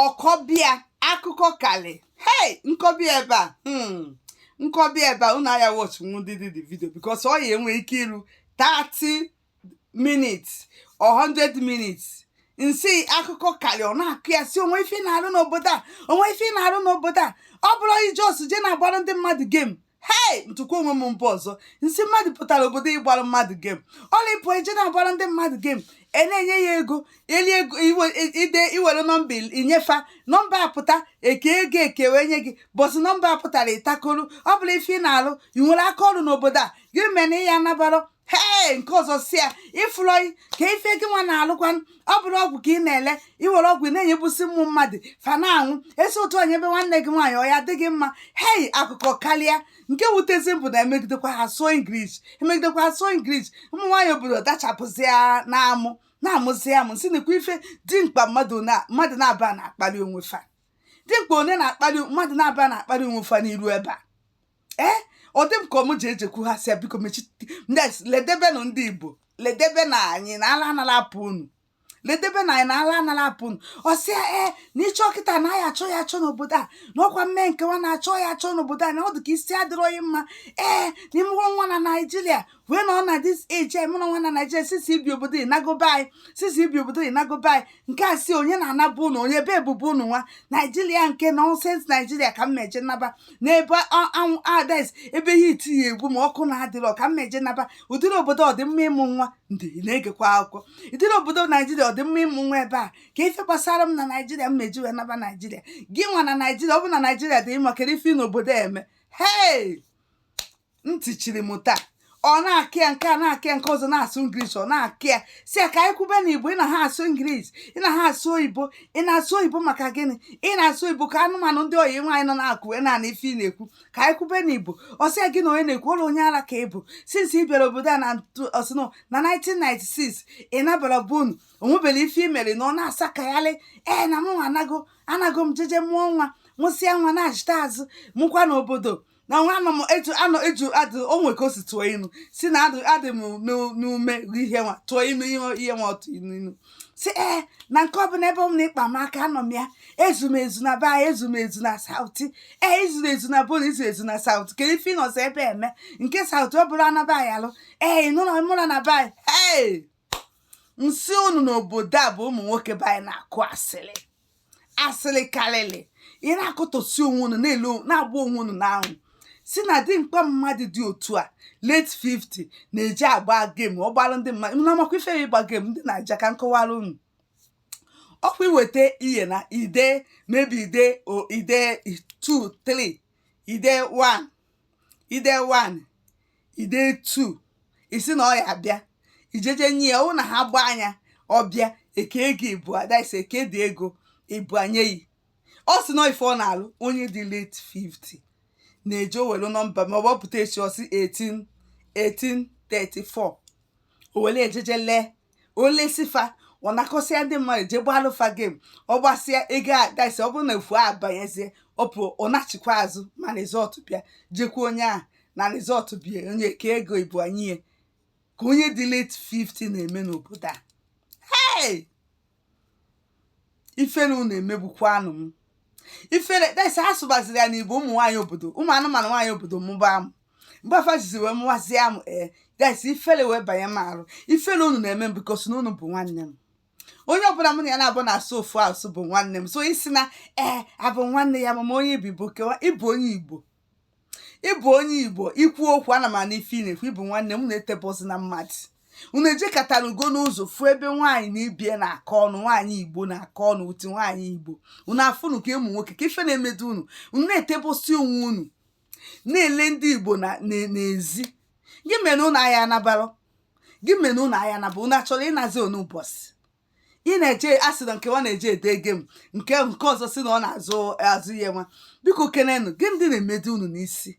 ọ kọbe ya akụkọ kalị hei m kọbe ya ebe a hmm, m kọbe ya ebe a unu aya watch nwụdịdị the video because ọ ya enwe ike iru 30 minutes or 100 minutes m sị akụkọ kalị ọ na-akọ ya sị o nwee ife ị na-arụ n'obodo a o nwee ife ị na-arụ n'obodo a ọ bụrọ ị just je na-agbara ndị mmadụ game hei m tụkwa onwe m mba ọzọ m sị mmadụ pụtara obodo ịgbara mmadụ game ọla ịpụ i je na-agbara ndị mmadụ game a na-enye ya ego eli ego ide i were nọmba i nye fa nọmba apụta e kee ego e kee wee nye gị but nọmba apụtarọ ị takoro ọ bụrọ ife ị na-alụ ị nwere aka ọrụ n'obodo a gịnị mere na ị ya anabara hee nke ọzọ sị ya ịfụrụ anyị kee ife gị nwa na-alụkwa ọ bụrọ ọgwụ ka ị na-ele i were ọgwụ ị na-enyebusi ụmụ mmadụ fa na-anwụ e si otu a nyebe nwanne gị nwaanyị ọ ya adị gị mma hei akụkọ karịa nke wutezi m bụ na emegidekwa ha sụọ English emegidekwa ha sụọ English ụmụ nwaanyị obodo dachapụzi ya na-amụ na-amụzi amụ sị nekwa ife dimkpa mmadụ na- mmadụ naabọ na-akpali onwe fa dimkpa onye na-akpali mmadụ naabọ na-akpali onwe fa n'iru ebe a ee eh, ọ dị m ka ọ mụ ji ejekwu ha sị biko mechi ledebenụ ndị igbo ledebe na anyị na ala anala apụ unu ledebe na anyị na ala anala apụ unu ọ sị ya ee eh, na ị chọ kịta na a ya achọ ya achọ n'obodo a na ọ kwa m mee nkewa na-achọ ya achọ n'obodo a na ọ dị ka isi adịrọ gị mma ee eh, na ị mụrụ nwa na naijiria wee nọ na this age anyị mụna nwa na naijiria since i bi obodo ị nago be anyị since i bi obodo ị nago be anyị nke a sị onye na-ana be unu onye ebe bụ be unu nwa naijiria nke nonsense naijiria ka m meje naba n'ebe anwụ ades ebe ihe itinye egwu ma ọkụ na-adịrọ ka m meje naba ụdịrị obodo ọ dị mma ịmụ nwa ndị na-egekwa akụkọ ụdịrị obodo naijiria ọ dị mma ịmụ nwa ebe a kee ife gbasara m na naijiria m meji wee naba naijiria gị nwa na naijiria ọ bụ na naijiria dị mma kedu ife ị nọ obodo eme hei ntị chiri m taa ọ na-akọ ya nke a na-akọ ya nke ọzọ na-asụ English ọ na-akọ ya sị ya ka anyị kwube na igbo ị na ha asụ English ị na ha asụ oyibo ị na-asụ oyibo maka gịnị ị na-asụ oyibo ka anụmanụ ndị oyi nwaanyị nọ n'akụkụ wee na-anụ ife ị na-ekwu ka anyị kwube na igbo ọ sị ya gị na onye na-ekwu ụlọ onye ara ka ị bụ since ị bịara obodo a na ọ sịnụ na 1996 ị nabarọ be unu o nweberọ ife i mere na ọ na-asakagharị ee na mụ anago anago m jeje mụọ nwa mụsịa nwa nachịta azụ mụkwa n'obodo na nwa anọ m etu anọ etu adị o nwere ka o si tụọ inu sị na adị adị m n'u- n'ume ri ihe nwa tụọ inu ihe ihe nwa ọtụ inu inu sị ee na nke ọbụla ebe m na-akpa m aka anọ m ya ezu m ezu na be anyị ezu m ezu na South ee i zuru ezu na be unu i zuo ezu na South kedu ife ị nọzi ebe eme nke South ọ bụrụ anaba anyị alụ ee ịnụlọ mụra na be anyị ee m sị unu n'obodo a bụ ụmụ nwoke be anyị na-akụ asịrị asịrị karịrị ị na-akọtọsi onwe unu na-ele na-agba onwe unu n'anwụ sị na dimkpa mmadụ dị otu a late 50 na-eji agba game ọ gbara ndị mmadụ unu amakwa ife ya ịgba game ndị naija ka m kọwara unu ọkwa iweta ihe na ide maybe ide o ide 2 3 ide 1 ide 1 ide 2 ị sị na ọ ya abịa ijeje nye ya ọ bụrụ na ha gbaa nya ọ bịa eke ego ibua ada ise eke dị ego ibua nye yi ọ sị na ife ọ na-alụ onye dị late 50 na-eje o welu nọmba ma ọ bọpụta echi ọ sị 18 34 o wele e jeje lee o lesi fa ọ nakọsịa ndị mmadụ jee gbalụ fa game ọ gbasịa ego adaisi ọ bụrụ na efu abanyezie ọ pụ ọ nachikwa azụ ma result bịa jekwu onye ahụ na result bịa onye kee ego ibua nye ya ka onye dị late 50 na-eme n'obodo a hey! ifere unu emegbukwanụ m ifere that is asụbaziri ya n'igbo ụmụ nwaanyị obodo ụmụ anụmanụ nwaanyị obodo mụba amụ mgbe fa jizi wee mụwazie amụ ee that is ifere wee banye m arụ ifere unu na-eme m because na unu bụ nwanne m onye ọbụla mụ na ya na-abụ na-asụ ofu asụ bụ nwanne m so ị sị na ee abụ nwanne ya mama onye igbo bụ kewa ịbụ onye igbo ịbụ onye igbo i kwu okwu ana m anụ ife ị na-ekwu ị bụ nwanne m na-etebọzi na mmadụ unu ejekatarago n'ụzọ fụ ebe nwaanyị na ibe ya na-akọ ọnụ nwaanyị igbo na-akọ ọnụ uti nwaanyị igbo unu afụnụ ka ụmụ nwoke ka ife na-emedu unu unu na-etebọsi onwe unu na-ele ndị igbo na- na- n'ezi gị mere unu aya anabara gị mere unu aya anaba unu achọrọ ịnazi ụnọ ụbọchị ị na-eje asị na nke ọ na-eje ede game nke nke ọzọ sị na ọ na-azụ azụ ihe nwa biko kenenụ gịnị dị na-emedi unu n'isi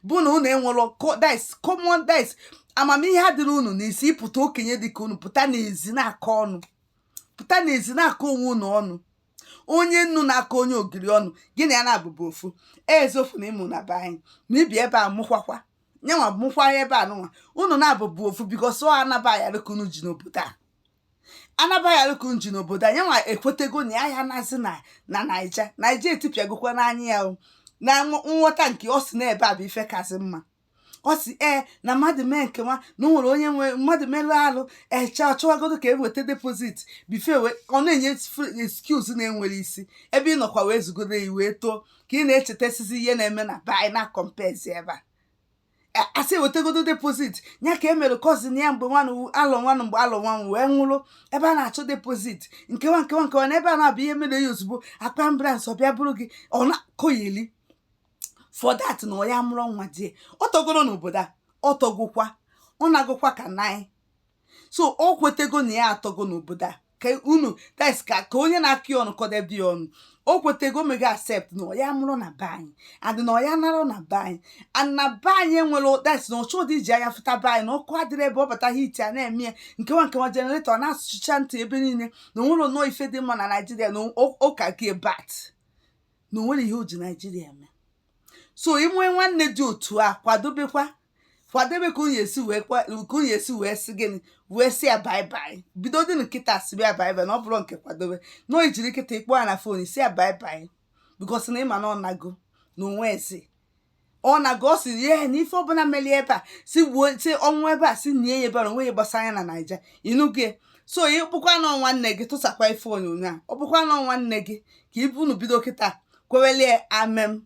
bụ na unu enwero this common sense amamihe adịrọ unu n'isi ịpụta okenye dịka unu pụta n'ezi na-akọ ọnụ pụta n'ezi na-akọ onwe unu ọnụ onye nnu na-akọ onye ogiri ọnụ gị na ya na-abụbụ ofu ezofu na ịmụ na be anyị ma ibi ebe a mụkwakwa nyanwa mụkwa ebe a nụnwa unu na-abụbụ ofu because ọ anaba ya dịka unu ji n'obodo a anabaghị ka nji n'obodo a nyanwa ekwetego na ya ya nazi na na naija naija etipịagokwa n'anya ya o na nghọ- nghọta nke ọ si n'ebe a bụ ife kasị mma ọ sị ee na mmadụ mee nke nwa na o nwere onye nwe mmadụ merụ arụ eche achọwagodo ka eweta deposit bụ ife ọ na-enye excuse na-enwero isi ebe ị nọkwa wee zugodo ya wee too ka ị na-echetasizi ihe na-eme na be anyị na comparezi ebe a asị ewetagodo deposit ya ka emere cousin ya mgbe nwanụ alọ nwanụ mgbe alọ nwanụ wee nwụrụ ebe a na-achọ deposit nke nwa nke nwa nke nwa na ebe a na-abụ ihe mere ya ozugbo akpọ ambulance ọ bịa buru gị ọ na-akọyeli for that na ọ ya mụrụ nwa die ọ tọgoro n'obodo a ọ tọgokwa ọ na-agụkwa ka nanyị so o kwetego na ya atọgo n'obodo a ka unu that's ka ka onye na-akọ ya ọnụ kọdebe ya ọnụ o kwetego mego accept na ọ ya mụrụ na be anyị adị na ọ ya nara na be anyị and na be anyị enwere tes na ọ chọdị iji anya fụta be anyị na ọkụ adịrị ebe ọ bata hiti ana-eme ya nkewa nkewa jeneretọ na-asụcha ntị ebe niile na onwere nnọọ ife dị mma na naijiria na ụka gị bat na onwere ihe o ji naijiria eme so i nwee nwanne dị otu a kwadobekwa kwadebe ka unu esi wee kwa- ka unu esi wee sị gịnị wee sị ya baibai bido dị kịta sibe ya baibai na ọ bụrụ nke kwadobe na o jiri kịta kpọọ ya na fon si ya baibai bikos na ịma na ọ nago na onwe ebe ọ na-aga ọ sị ihe na ife ọbụla melie ebe a si gbuo si ọ nwụọ ebe a si nie ya ebe a na onwe ihe gbasara ya na naija ịnụgo ya so ọ bụkwa na nwanne gị tụsakwa ife onyonyo a ọ bụkwa na nwanne gị ka ibu unu bido kịta kwewelie amem